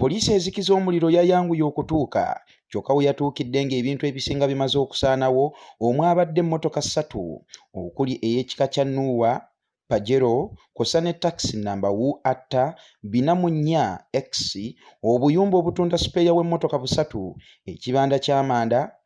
Poliisi ezikiza omuliro yayanguye okutuuka kyokka we yatuukidde ng'ebintu ebisinga bimaze okusaanawo omwabadde emmotoka ssatu okuli ey'ekika kya Nuuwa, Pajero kw'ossa ne takisi nnamba UAT bina mu nnya X, obuyumba obutunda sipeeya w'emmotoka busatu, ekibanda ky'amanda,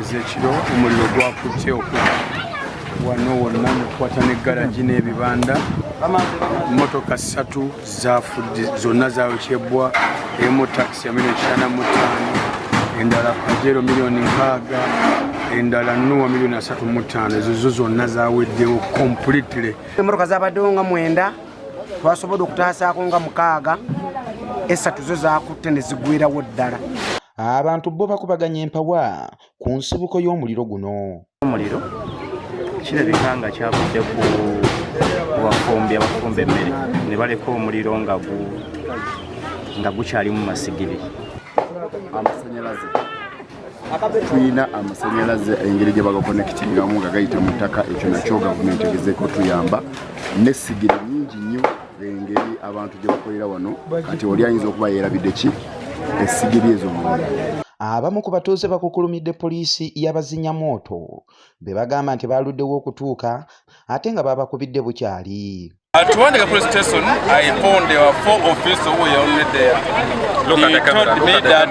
ezekiro omuliro gwakutte okuva wano wonna mukwata ne garagi n'ebibanda motoka ssatu zafudde zonna zayokyebwa emu takisi ya milioni kitaana mu ttaano endala pajero miliyoni nkaaga endala nuwa miliyoni asatu mu ttaano ezo zo zonna zaweddewo completely emotoka zabaddewo nga mwenda twasobodde okutaasaako nga mukaaga esatu zo zakutte ne zigwirawo ddala Abantu bbo bakubaganye empawa ku nsibuko y'omuliro guno. Omuliro kirabika nga kyavudde ku bafumbi abafumba emmere ne baleka omuliro nga gukyalimu masigiri. Amasanyalaze tulina amasanyalaze engeri gye bagakonekitingamu nga gayita mu ttaka ekyo nakyo gavumenti egezeeko tuyamba n'essigiri nyingi nnyo. engeri abantu gye bakolera wano kati oli ayinza okuba yeerabidde ki essigiri ezo munda abamu ku batuuze bakukulumidde poliisi y'abazinya mwoto be bagamba nti baaluddewo okutuuka ate nga baabakubidde bukyali Uh, to one police station, I found there were four officers who were already there. Look he at the camera. Told me that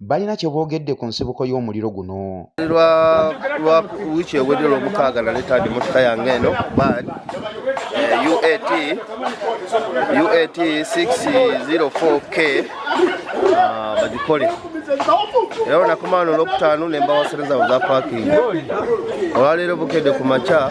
balina kye boogedde ku nsibuko y'omuliro guno lwa wiiki ewedde lwomukaaga naleeta ndi motoka yange eno bad eh, uat uat 604 k ah, bagikole era onakomaano olwokutaano nembawasereza oza pakingi olwaleero bukedde ku makya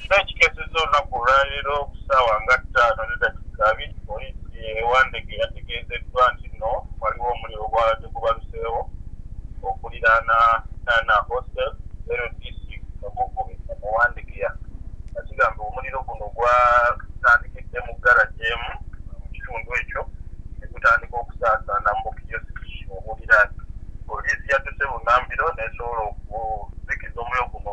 Kino kikeseza olunaku olwaleero ku ssaawa nga ttaano ne dakiika abiri poliisi e Wandegeya yategeezeddwa nti nno waliwo omuliro ogwabadde gubaluseewo okuliraana Nana Hostel LDC Mugugube mu Wandegeya nga kigambibwa omuliro guno gwatandikidde mu garagi emu mu kitundu ekyo ne gutandika okusaasaana mu bukiyosiki obuliraanye. Poliisi yadduse bunnambiro n'esobola okuzikiza omuliro guno.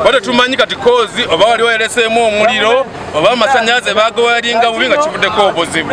oba tetumanyi kati kozi oba wali wayeleseemu omuliro oba amasanyalaze bagawayalinga bubi nga kivuddeko obuzibu